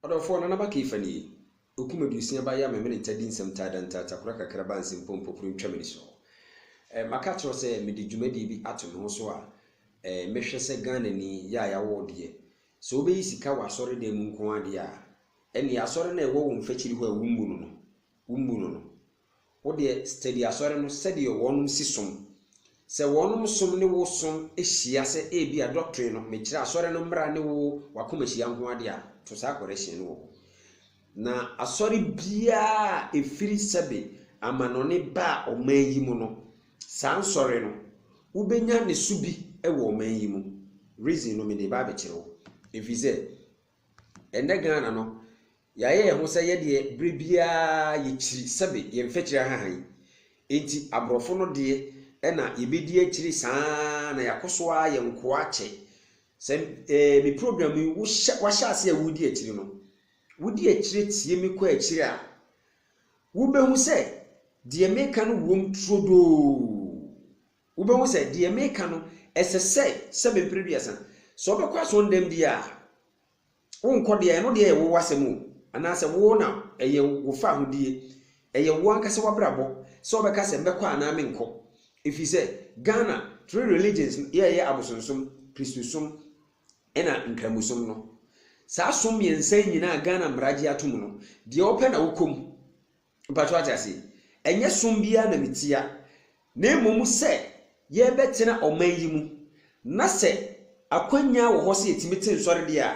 Ɔdɔfoɔ Nana Ba Keefa ni ei, okum aduosia ba ya me mene nta di nsɛm taa da ntaa takora kakra ba nsem pɔ mpopuro ntwa mani so eh, ma ka kyerɛ wo sɛ me de dwumadie bi ato me ho so a eh, me hwɛ sɛ Ghana ni ya ya wo deɛ sɛ wo bɛ yi sika wɔ asɔre dan mu nko ara deɛ a ɛneɛ asɔre no a ɛwɔ wo nfakyiri hɔ a wo mmu no no wo mmu no no Wo deɛ study asɔre no sɛdeɛ wɔnom si som. Sɛ wɔnom som ne wo som hyia sɛ ebia doctrine no, mekyerɛ asɔre no mmra ne wo wakoma hyia nko ara deɛ a, to saa correction no wɔ hɔ. Na asɔre biara a ɛfiri sɛbe amanɔne baa ɔman yi mu no, saa nsɔre no, wobɛnya ne so bi wɔ ɔman yi mu. Reason no mede reba abɛkyerɛ wo. Ɛfiri sɛ. Ɛnnɛ Ghana no, yɛayɛ yɛn ho sɛ yɛ deɛ berɛ biara yɛkyiri sɛbe yɛn mfɛkyiri ahaha yi. Enti aborɔfo no deɛ ɛna yɛbɛdi akyire saa ara na yɛakɔ so ara yɛ nkoa akyɛ. Sɛ eh, me program yi wohyɛ, wahyɛ ase a woredi akyire no, wodi akyire tie me kɔ akyire a, wobɛhu sɛ deɛ meka no wom turodoo. Wobɛhu sɛ deɛ meka no, ɛsɛ sɛ sɛ me mpere aduasa. Sɛ wobɛkɔ asɔndɛm bi a, wonkɔ deɛ ɛno deɛ yɛ wo w'asɛm o, anaasɛ wo na ɛyɛ wo fahodie, ɛyɛ wo ankasa w'abrabɔ sɛ wobɛka sɛ mɛkɔ anaa menkɔ. Ɛfiri sɛ Ghana three religions no yɛɛyɛ abosonsom, Kristosom ɛna Nkramosom no. Saa som mmiɛnsa yi nyinaa Ghana mmara gye atom no, deɛ wopɛ na wokɔ mu. Mpakyɛw wate ase? Ɛnyɛ som biara na metia, na mmom sɛ yɛbɛtena ɔman yi mu, na sɛ akwannya wɔ hɔ sɛ yɛtumi te nsɔre deɛ a,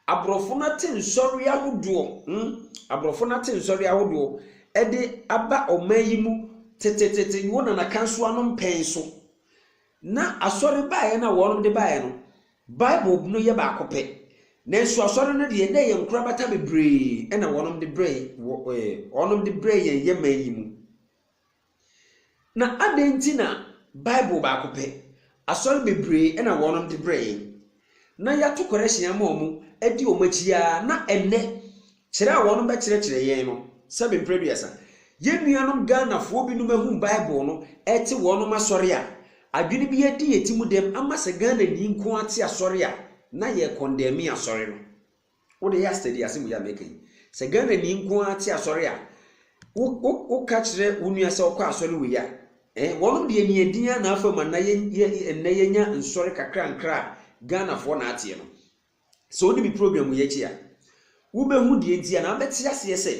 aborɔfo no ate nsɔre ahodoɔ, hmm, aborɔfo no ate nsɔre ahodoɔ ɛde aba ɔman yi mu tetetete wɔ Nana Kansoa no mpɛn so. Ná asɔre no baeɛ no a wɔnom de baeɛ no, Bible no yɛ baako pɛ. Nanso asɔre no deɛ, na ɛyɛ nkorabata bebree na wɔnom de brɛɛ wɔ ɛɛ wɔnom de brɛɛ yɛn yɛn man yi mu. Na adɛn nti na Bible baako pɛ, asɔre bebree na wɔnom de brɛɛ yɛn? Na yɛato kɔrɛhyen ama wɔn, adi wɔn akyi ara, na ɛnnɛ, kyerɛ a wɔbɛkyerɛkyerɛ yɛn no, sɛbe mprɛduasa, yɛn nuanom Ghanafoɔ binom ahu Bible no, ɛte wɔnom asɔre a, adwene bi adi yɛn ti mu dɛm ama sɛ Ghanani nko ara te asɔre a, na yɛrekɔndɛme asɔre no. Wo de ya steady asem yi a meka yi sɛ Ghana ni nko ara te asɔre a wo wo wo ka kyerɛ wo nua sɛ ɔkɔ asɔre wei a eh wɔnom deɛ ni ɛdin a na afam ana yɛ yɛ ɛnɛ yɛ nya nsɔre kakra nkra a Ghana foɔ na ateɛ no sɛ ɔni mi program yi akyi a wo bɛ hu deɛ nti a na abɛ te aseɛ sɛ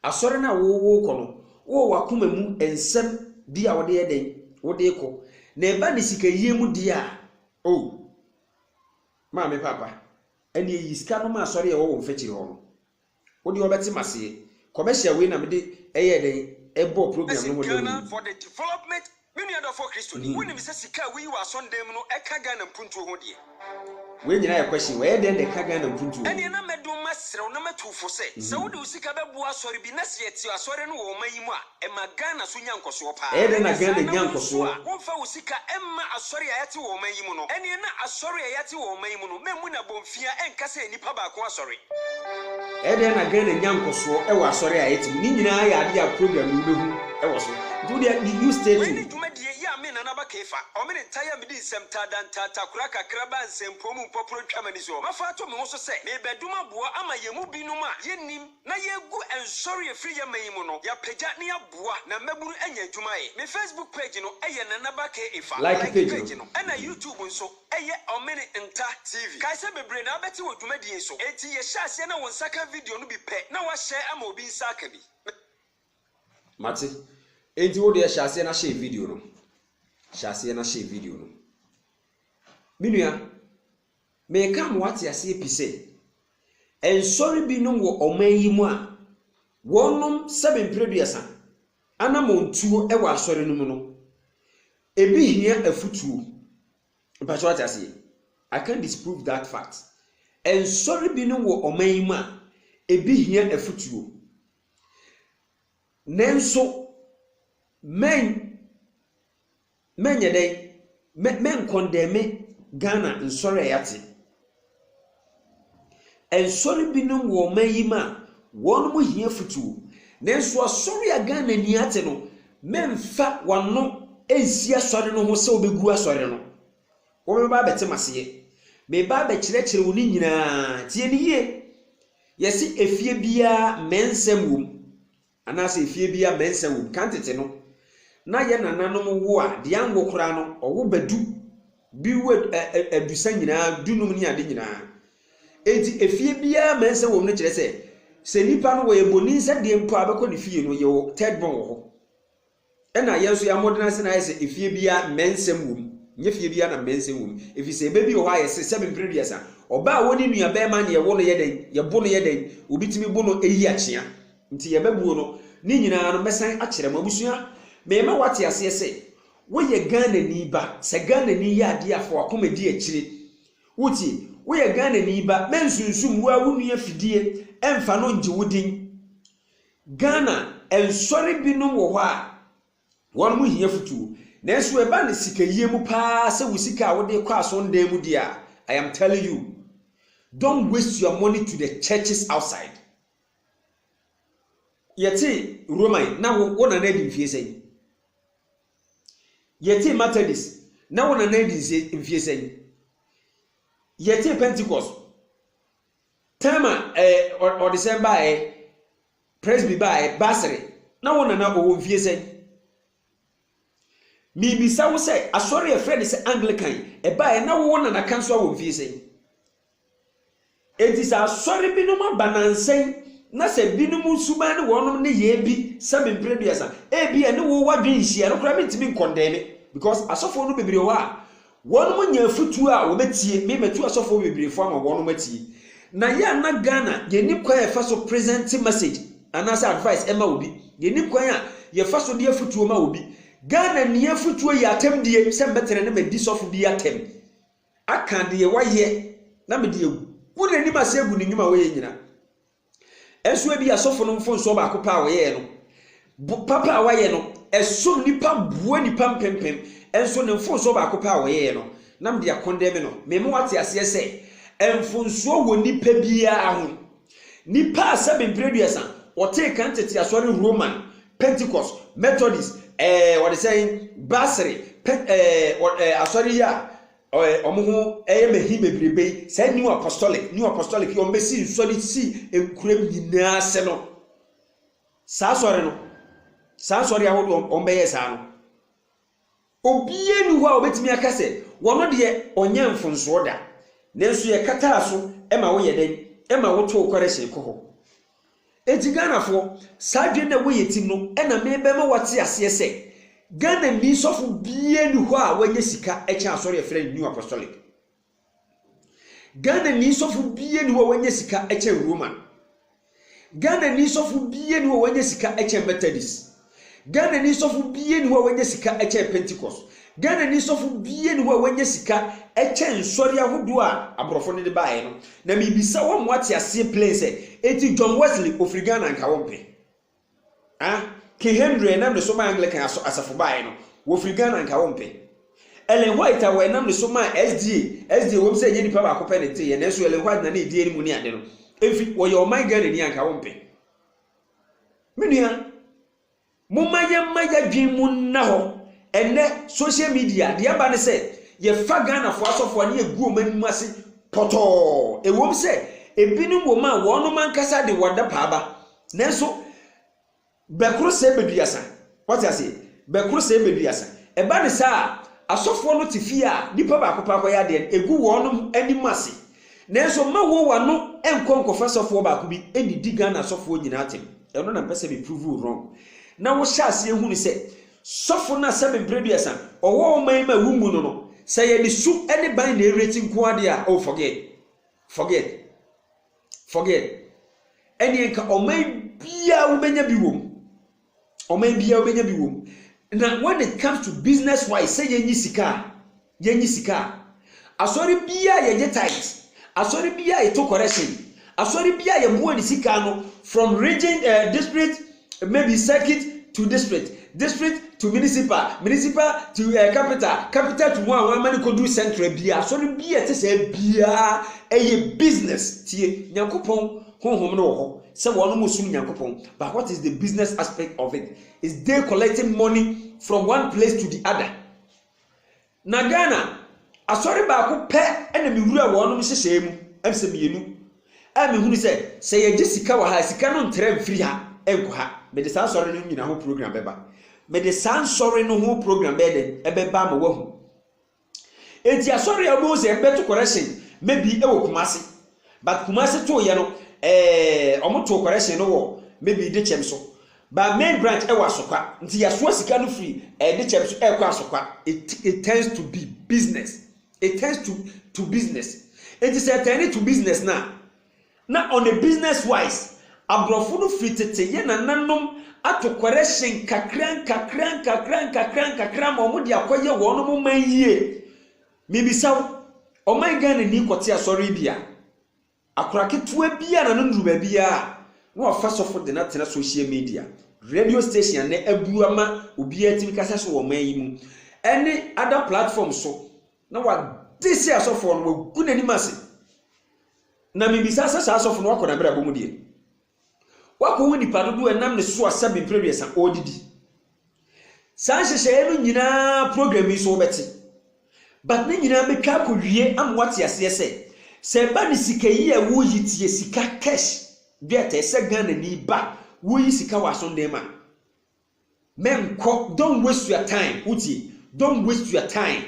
asɔre na wo wo kɔ no wo wɔ akoma mu nsɛm bi a wɔde yɛ dɛn wɔde kɔ na ɛba ne sika yie mu deɛ a oh maame papa. Ɛneɛ yi sika no ma asɔre a ɛwɔ wo mfɛkyire hɔ no. Wodeɛ wɔbɛte maseɛ. Commercial wei na mede ɛyɛɛ dɛn ɛbɔɔ program no ho dawuro yi. Me nua dɔfoɔ Kristoni, wonim sɛ sika a woyi wɔ asɔndan mu no ɛka Ghana mpuntuo ho deɛ? Wei nyinaa yɛ question. Wɔyɛ dɛn de ka Ghana mpuntuo ho? Ɛneɛ na mɛdom masrɛ wo na matu wo fo sɛ, sɛ wode wo sika bɛboa asɔre bi na sɛ yɛte asɔre no wɔ ɔman yi mu a, Ɛma Ghana so nya nkɔsoɔ paa. Ɛyɛ dɛn na Ghana nya nkɔsoɔ? Womfa wo sika mma asɔre a yɛate wɔ ɔman yi mu no. Ɛneɛ na asɔre a yɛate wɔ ɔman yi mu no mɛmmu no abɔmfia ɛnka sɛ nnipa baako asɔre. Ɛyɛ dɛn na Ghana nya nkɔsoɔ wɔ asɔre a yɛte mu. Ne nyinaa yɛ adeɛ a program yi wobɛhu wɔ so. Nti wodeɛ me use stay tuned. Mene dwumadie yi a me Nana Aba Keefa, ɔmene ntae a medi nsɛm taadaa ntaatakora kakra baa nsɛmpuo mu mpɔporɔ ntwa m'ani soɔ. Mafa ato me ho so sɛ merebɛdom aboa ama yɛn mu binom a yɛnnim, Na yɛgu nsɔre ɛfiri yɛ man yi mu no yɛapagya na yɛaboa na mmabunu anya adwuma ayɛ. Me Facebook page no yɛ Nana Ba K Efa, like page no, ɛna YouTube nso yɛ Ɔmene Nta TV. Kae sɛ bebree na abɛte wɔ dwumadie yi so, enti yɛhyɛ aseɛ na wo nsa ka video no bi pɛ na woahyɛ ama obi nsa aka bi. Me. Mate. Enti wo deɛ hyɛ aseɛ na hyɛ video no. Hyɛ aseɛ na hyɛ video no. Me nua, Mereka ama woate aseɛ pi sɛ, nsɔre binom wɔ ɔman yi mu a wɔnom sɛbe mprɛduasa anamɔntuo wɔ asɔre no mu no, ɛbi hia afutuo. Mpakyɛ woate aseɛ? I can't disprove that fact. Nsɔre binom wɔ ɔman yi mu a ɛbi hia afutuo. Nanso, mɛn. Mɛnyɛ dɛn? Me menkɔndɛme Ghana nsɔre a yɛate. Nsɔre binom wɔ ɔman yi mu a, wɔnom hia futuo. Nanso asɔre a Ghanani ate no, memmfa w'ano nnsi asɔre no ho sɛ wobɛgu asɔre no. Wobɛba abɛte m'aseɛ. Meba abɛkyerɛkyerɛ wo ne nyinaa. Tie no yie. Yɛse efie biara mmɛnsɛm wom. Anaasɛ efie bi a mɛnsa wom. Kan tete no, na yɛn nananom wo a, deɛ anwo koraa no, ɔwo ba du. Bi wo adusa nyinaa, dunum ne ade nyinaa. Enti efie biara mɛnsa wom no kyerɛ sɛ, sɛ nipa no wɔyɛ boni nsɛdeɛ mpo a, bɛkɔ ne fie no, yɛwɔ third born wɔ hɔ. Ɛna yɛn nso yɛn mmɔden ase na ayɛ sɛ efie biara mmɛnsɛm wom. Nyɛ fie biara na mmɛnsɛm wom. Efisɛ ɛbɛ bi wɔ hɔ a yɛse sɛbe mpere aduasa. Ɔbaa a wɔne nua bɛɛma ne yɛwo no yɛ dɛn? Yɛbo no yɛ dɛn? Obi tumi bo no eyi akyea. Nti yɛbɛ buo no. Ne nyinaa no mɛsan akyerɛ mo. Abusua, mɛɛma wate aseɛ se wo yɛ Ghanani ba. Sɛ Ghanani yɛ adeɛ a fa wakoma di akyire. Wo tie? Wo yɛ Ghanani ba. Mɛnsunsum wo a wo nua fidie. Ɛnfa no ngye wo din. Ghana nsɔre binom wɔ hɔ a wɔn ho hia futuo nanso ɛba no sikayie mu paa sɛ wo sika a wode kɔ asɔndan mu deɛ a I am telling you don't waste your money to the churches outside. Yɛte Roman na wo, wo nana adi mfie sɛn? Yɛte Methodist na wo nana adi mfie sɛn? Yɛte Pentecost Time a eh, ɔde sɛn baa eh, Presby baa eh, Basere, na wo nana ɔwɔ mfie sɛn? Mebisa wo sɛ, asɔre a ɛfrɛ ne sɛ Anglican ɛbaa eh, na wo nana ka nso awɔ mfie sɛn? Enti sɛ asɔre binom aba nansɛn, na sɛ binom suban ne wɔnom ne yɛɛ bi sɛ mempere duasa, ebi a ne wo wadwen nhyia, ɛno koraa mentumi nkɔndɛme, because asɔfoɔ no bebree wɔ hɔ a, Wɔnom nya afutuo a wɔbɛtie me matu asɔfoɔ bebree fo ama wɔnom atie. Na yɛ a na Ghana yɛnni kwan a yɛfa so present message anaasɛ advice ɛma obi, yɛnni kwan a yɛfa so de afutuo ma obi. Ghana ni afutuo yɛ atɛmdie sɛ mɛtena na madi sɔfo bi atɛm aka deɛ wayɛ na mede agu n'anim ase agu ne nwuma a ɔyɛ nyina Nso ebia asɔfo no mfomsoɔ baako pɛ a wɔyɛɛ no, bo papa a wɔayɛ no, ɛsom nnipa boa nnipa mpempem. Nso ne mfomsoɔ baako pɛ a wɔyɛɛ no, na mede akɔndɛme no. Mema woate aseɛ sɛ, mfomsoɔ wɔ nnipa biara ho. Nnipa a sɛbe mprɛduasa wɔtee kan tete asɔre Roman, Pentecost, Methodist, ɛɛ wɔde sɛn, Basere, pɛ, ɛɛ wɔ ɛɛ asɔre yi a Ɔɛ ɔmo ho ɛyɛ me he bebrebe yi, saa New Apostolic, New Apostolic yi ɔmo besi nsɔre si nkuram nyinaa ase no, saa asɔre no, saa nsɔre ahodoɔ ɔmo ɔmo bɛyɛ saa no, obiara ni hɔ a ɔbɛtumi aka sɛ wɔn deɛ ɔnyɛ mfonsoɔ da, nanso yɛkataa so ma woyɛ dɛn, ma wotoo kɔrɛhyɛn kɔ hɔ. Enti Ghanafoɔ, saa adwene no a ɛwɔ yɛn tim no na merebɛma woate aseɛ sɛ, Ghanani sɔfo biara nni hɔ a wanya sika kyɛn asɔre a yɛfrɛ no New Apostolic. Ghanani sɔfo biara nni hɔ a wanya sika kyɛn Roman. Ghanani sɔfo biara nni hɔ a wanya sika kyɛn Methodist. Ghanani sɔfo biara nni hɔ a wanya sika kyɛn Pentecost. Ghanani sɔfo biara nni hɔ a wanya sika kyɛn nsɔre ahodoɔ a aborɔfo no de baeɛ no. Na mebisa wo ama woate aseɛ plain sɛ, enti John Wesley ɔfiri Ghana anka wompɛ? Ah? King Henry a ɛnam ne so maa Anglican aso asafo baeɛ no, wɔfiri Ghana anka wompɛ? Ellen White a wɔnam ne so maa SDA, SDA ɛwom sɛ ɛnyɛ nipa baako pɛ na ɛteeɛ, nanso Ellen White na na ɛdi anim ne ade no, ɛfiri, ɔyɛ ɔman Ghanani anka wompɛ? Me nua, momma yɛmma yɛadwene mu nna hɔ. Ɛnnɛ, social media, deɛ ɛba ne sɛ, yɛfa Ghanafoɔ asɔfoɔ ne yɛgu wɔn anim ase pɔtɔɔ. Ɛwom sɛ, ebinom wɔ mu a wɔnom ankasa de wɔn adapaa ba, nanso bɛkoro sɛ bɛduasa. Wate aseɛ? Bɛkoro sɛɛ bɛduasa. Ɛba no saa a, asɔfoɔ no te fie a nipa baako paa kɔyɛ adeɛ no, ɛgu wɔnom anim ase. Nanso mma wo w'ano nkɔ nkɔfa sɔfoɔ baako bi nnidi Ghana asɔfoɔ nyinaa atɛm. Ɛno na mpɛ sɛ me prove wo wrong. Na wo hyɛ aseɛ hunu sɛ, sɔfo no a sɛ mprɛ duasa ɔwɔ wo man mu a wommu no no, sɛ yɛde su ne ban na ɛreti nko ara deɛ a, oh forget. Forget. Forget. Ɛneɛ nka ɔman biara wobɛnya bi wɔ mu. Ɔman biara wobɛnya bi wom. Na when it comes to business wise sɛ yɛnyi sika a, yɛnyi sika a, asɔre biara yɛgye tithe, asɔre biara yɛto correction, asɔre biara yɛboa ne sika no from region, uh, district, maybe circuit to district, district to municipal, municipal to uh, capital, capital to one one mani kodu central biara, asɔre biara ɛte sɛ biara ɛyɛ business tie nyankopɔn Honhom no wɔ hɔ sɛ wɔnom resom Nyankopɔn but what is the business aspect of it? Is they collecting money from one place to the other? Na Ghana, asɔre baako pɛ na mewura wɔnom nhyehyɛe mu, ɛm sɛ mmienu, a mehunu sɛ sɛ yɛgye sika wɔ ha a, sika no ntra mfiri ha nkɔ ha. Mede saa nsɔre no nyina ho program bɛba. Mede saa nsɔre no ho program bɛyɛ dɛn? Ɛbɛba ama woahu. Enti asɔre a wɔbɛhu sɛ ɛbɛto correction maybe wɔ Kumasi. But Kumasi too yɛ no eh, wɔn too correction no wɔ maybe Dekyem so. But main branch ɛwɔ Asokwa. Nti yɛasoa sika no firi eh, Dekyem so ɛrekɔ Asokwa. It it turns to be business. It turns to to business. Enti sɛ ɛtɛne to business no a, Na on a business wise, aborɔfo no firi tete yɛ nananom atokware hye nkakra nkakra nkakra nkakra nkakra ma wɔn de akɔ yɛ wɔn mo man yie. Me bisa wo, ɔman Ghana ni kɔ te asɔre bi a, akora ketewa bi a na no nuru baabi a, na wafa sɔfo de no atena social media, radio station a nɛ aburu ama obiara tumi kasa so wɔ ɔman yi mu, ɛne other platform so, na wade se asɔfoɔ no, wagu nanim ase. Na mibisa sɛ saa sɔfo no wakɔ n'abrabɔ mu deɛ? Wakɔ wo nipa dodoɔ a ɛnam ne so a sɛbe mprɛduasa ɔɔdidi? Saa nhyehyɛeɛ no nyinaa program yi so wobɛte. But ne nyinaa bɛtwa akɔ wie ama woate aseɛ sɛ, sɛ ɛba ne sika yi a woyi tie sika cash dwɛɛtɛ sɛ Ghanani ba woyi sika wɔ aso nneɛma Menkɔ, don't waste your time, wotie? Don't waste your time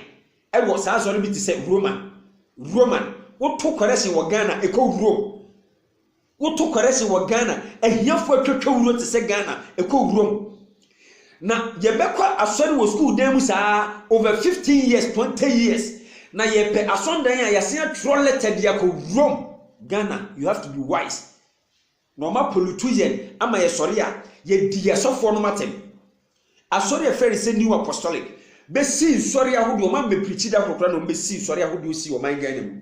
ɛwɔ saa asɔre bi te sɛ Roman. Roman. Woto kɔrɛhyen wɔ Ghana, ɛkɔ wurom. Woto kɔrɛhyen wɔ Ghana, ahiafo atwatwa wuro te sɛ Ghana, ɛkɔ wurom. Na yɛbɛkɔ asɔre wɔ sukuu dan mu saa over 15 years, 20 years. Na yɛpɛ asɔndan a yɛasen atwerɛ lɛtɛ de akɔ wurom. Ghana, you have to be wise. Na ɔma polutu yɛn ama yɛsɔre a, yɛdi yɛn asɔfoɔ nom atɛm. Asɔre a ɛfrɛ no sɛ New Apostolic bɛsii nsɔre ahodoɔ, ɔma mmɛprikyi da koro koraa na wɔbɛsii nsɔre ahodoɔ sii ɔman Ghana mu.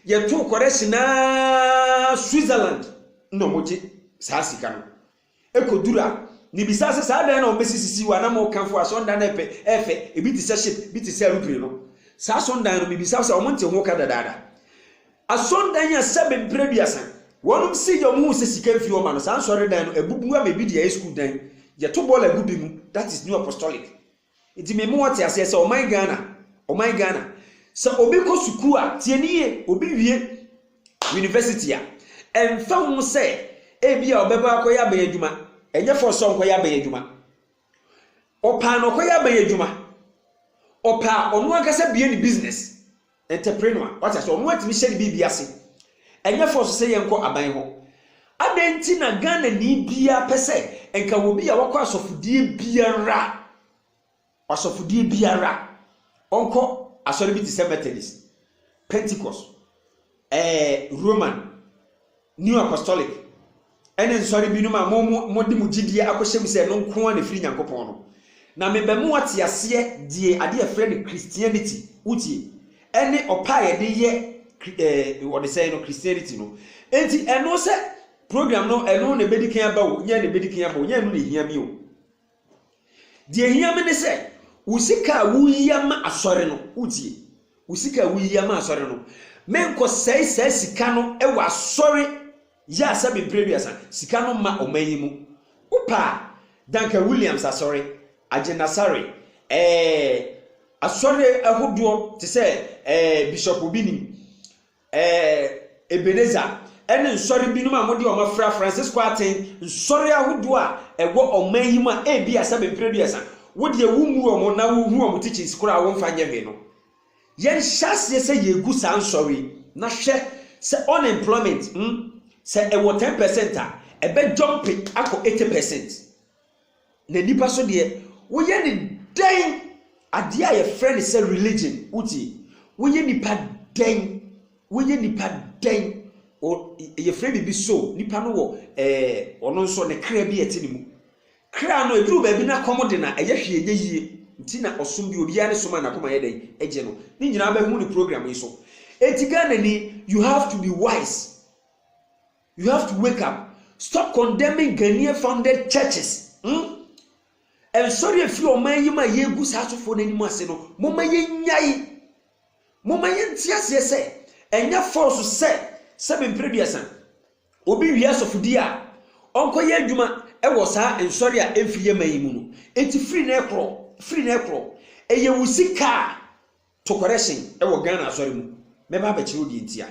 Yɛtoo correction ara Switzerland na wɔgye saa sika no. Ɛkɔduru a, mebisaa sɛ saa dan no a wɔbɛsisisii hɔ a na mokamfo asɔndan no ɛpɛ, ɛfɛ, ɛbi te sɛ ship, ɛbi te sɛ aeroplane no, saa asɔndan no mebisaa sɛ wɔnte ho ka dadaada. Asɔrdan a sɛbe mpra eduasa wɔnom sii yɛ ɔmo huu sɛ sika mfiri hɔ ma no saa nsɔredan no abubu ama ebi deɛ ayɛ sukuu dan yɛto bɔɔl agu bi mu that is new apostolic nti me ma wɔte aseɛ sɛ ɔman Ghana ɔman Ghana sɛ obi kɔ sukuu a tie ne yie obi wie university a ɛmfa ho sɛ ebi a ɔbɛba akɔyɛ aban adwuma ɛnyɛ fɔ sɛ ɔnkɔyɛ aban adwuma Ɔpaa na ɔkɔyɛ aban adwuma. Ɔpaa ɔno ankasa bie ne business. Entrepreneur. Wate ase ɔno atumi hyɛ ne biribi ase. Ɛnyɛ force sɛ yɛnkɔ aban hɔ. Adɛn nti na Ghana ni biara pɛ sɛ nka wɔ bi a wakɔ asɔfodie biara asɔfodie biara ɔnkɔ asɔre bi te sɛ Methodist, Pentecost, Ɛɛ, Roman, New Apostolic, ne nsɔre binom a mo mo mode mo gyidie akɔhyɛ mu sɛ ɛno nko ara na ɛfiri Nyankopɔn no, na mebɛ mo ate aseɛ deɛ adeɛ a yɛfrɛ no Christianity, wotie, ɛne ɔpɛ a yɛde yɛ kri ɛɛ wɔde sɛn no, Christianity no. Enti ɛno sɛ program no ɛno na ɛbɛdi kan aba o, nyɛ ɛno na ɛbɛdi kan aba o, nyɛ ɛno na ɛhia me o. Deɛ ɛhia me ne sɛ wo sika a woyi ama asɔre no wotie wo sika a woyi ama asɔre no menkɔsɛe saa sika no wɔ asɔre yɛ a sɛ mempere aduasa sika no ma ɔman yi mu wopa a danka williams asɔre agyenasare ɛɛ asɔre ahodoɔ te sɛ ɛɛ bishop bi nim Ɛɛ, Ebenezer, ɛne nsɔre binom a mode wɔn afra Francisco aten, nsɔre ahodoɔ a ɛwɔ ɔman yi mu a ebia sɛ me mprɛ duasa, wo deɛ wo mmu wɔn na wo hu wɔn teachings koraa a wo mfa nyɛ hwee no. Yɛn hyɛ aseɛ sɛ yɛ gu saa nsɔre yi na hwɛ sɛ unemployment, hmm, sɛ ɛwɔ ten percent a, ɛbɛ jump akɔ eighty percent. Na nnipa so deɛ, woyɛ no dɛn? Adeɛ a yɛfrɛ no sɛ religion, wotie? Woyɛ nipa dɛn? Woyɛ nipa dɛn? Yɛfrɛ biribi soul. Nipa no wɔ ɛɛ ɔno nso ne kra bi a ɛte ne mu. Kra no, ɛduru baabi na kɔm de na ɛyɛ hwee nyɛ yie. Nti na ɔsom bi, obiara ne som a n'akoma yɛ dɛn? Ɛgye no. Ne nyinaa bɛhu ne program yi so. Enti Ghanani, you have to be wise. You have to wake up. Stop condemning Ghanaian founded churches. Hmm? Nsɔre efi ɔman yi mu a yegu saa asɔfoɔ no anim ase no, moma yɛnyae. Moma yɛnte aseɛ sɛ, ɛnyɛ fɔɔso sɛ sɛ mempere duasa. Obi wie asɔfodie a, ɔnkɔyɛ adwuma wɔ saa nsɔre a ɛmfiri yɛ man yi mu no. Enti firi na ɛkorɔ, firi na ɛkorɔ. Ɛyɛ wo sika a To correction wɔ Ghana asɔre mu. Mɛba abɛkyerɛ wo deɛ nti a.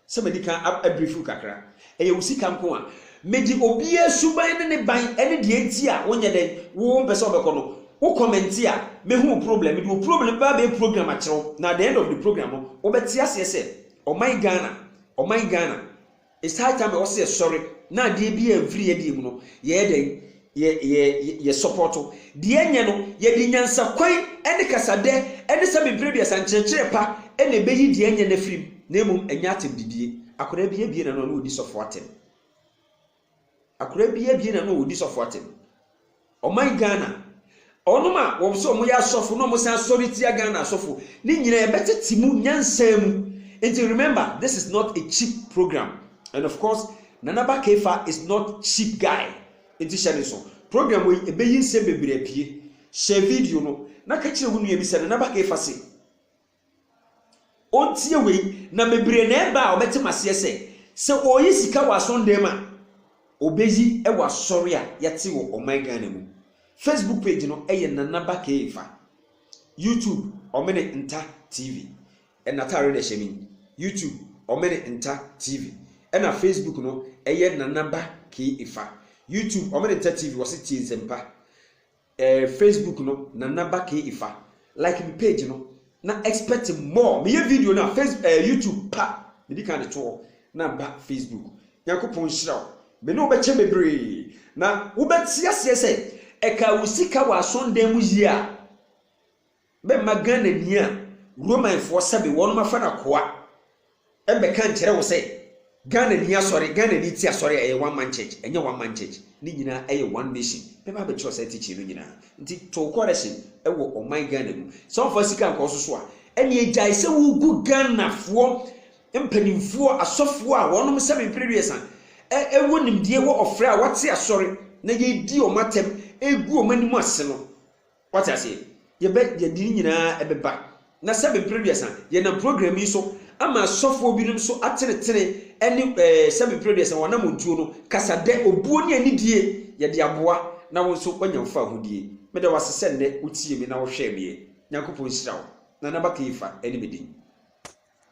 Sɛ madi kan abrief wo kakra. Ɛyɛ wo sika nko a. Mede obiara suban ne ne ban ne deɛ nti a wonyɛ dɛn, wo wompɛ sɛ wobɛkɔ no, wo comment a, mɛhu wo problem. Mede wo problem bɛba abɛyɛ program akyerɛ wo na at the end of the program no, wobɛte aseɛ sɛ, ɔman Ghana, ɔman Ghana, Saa time a ɔsɛ yɛsɔre na adeɛ bi a mfiri yɛdeɛ mu no, yɛyɛ dɛn? Yɛ yɛ yɛ sɔpɔto. Deɛ ɛnyɛ no, yɛde nyansakwan ne kasadɛ ne sɛ mempere aduasa nkyerɛkyerɛ pa na ɛbɛyi deɛ ɛnyɛ no afiri mu, na mmom ɛnyɛ atɛmdidie. Akwadaa bi abue n'ano a na ɔdi sɔfoɔ atɛm. Akora bi abien na na wɔdi sɔfo atem. Ɔman Ghana, wɔnom a wɔpɛ sɛ wɔyɛ asɔfo na wɔsan sɔre tia Ghana asɔfo, ne nyinaa yɛbɛtete mu nyansa mu. Nti remember this is not a cheap program and of course Nana Aba Keifa is not cheap guy nti hyɛ ne nso. Program wei ɛbɛyi nsɛm bebree apue. Share video no na ka kyerɛ wo nua bi sɛ Nana Aba Keifa se. Ontie wei, na bebree na ɛba a wɔbɛte mo aseɛ sɛ, sɛ ɔreyi sika wɔ asɔndan mu a, ɔbɛyi wɔ asɔre a yɛte wɔ ɔman Ghana mu. Facebook page no yɛ Nana Ba K'Efa. YouTube, Ɔmene Nta TV. N'ataare na ɛhyɛ me yi. YouTube, Ɔmene Nta TV. Ɛna Facebook no yɛ Nana Ba K'Efa. YouTube, Ɔmene Nta TV, wɔse tie nsɛmpa. Eh Facebook no nana bakee ifa like me page no na expect more meyɛ video no a face eh YouTube pa medi kan de to hɔ na ba Facebook Nyankopɔn nhyira wo me ne wo bɛkyɛ bebree na wobɛte aseɛ sɛ ɛkaa wo sika wɔ asɔndan mu yie a bɛma Ghanani a Romanfoɔ sɛbe wɔnom afa no akoa bɛka nkyerɛ wo sɛ Ghanani asɔre, Ghanani ti asɔre a ɛyɛ One Man Church, ɛnyɛ One Man Church, ne nyinaa yɛ One Nation, bɛba abɛkyerɛw saa teaching no nyinaa. Nti to correction wɔ ɔman Ghana mu. Sɛ wɔmfa sika nkɔ so so a, ɛnneɛ gyae sɛ wogu Ghanafoɔ mpanimfoɔ, asɔfoɔ a wɔnom sɛbe mpere aduasa, ɛ, wɔ nimdeɛ, wɔ ɔfrɛ a wɔate asɔre na yɛdi wɔn atɛm, ɛgu wɔn anim ase no, Wate aseɛ? Yɛbɛ, yɛde ne nyinaa ɛbɛba. Na sɛ me mprɛduasa, yɛnam program yi so ama asɔfoɔ binom nso atenetene ɛne ɛɛ sɛ me mprɛduasa wɔn anamontuo no kasa dɛ obuo ne anidie yɛde aboa na wo nso wanya mfaahodie. Meda wo ase sɛ nnɛ wotiee me na wohwɛɛ meɛ. Nyankopɔn nhyira wo. Nana Bakayfa ɛne me din.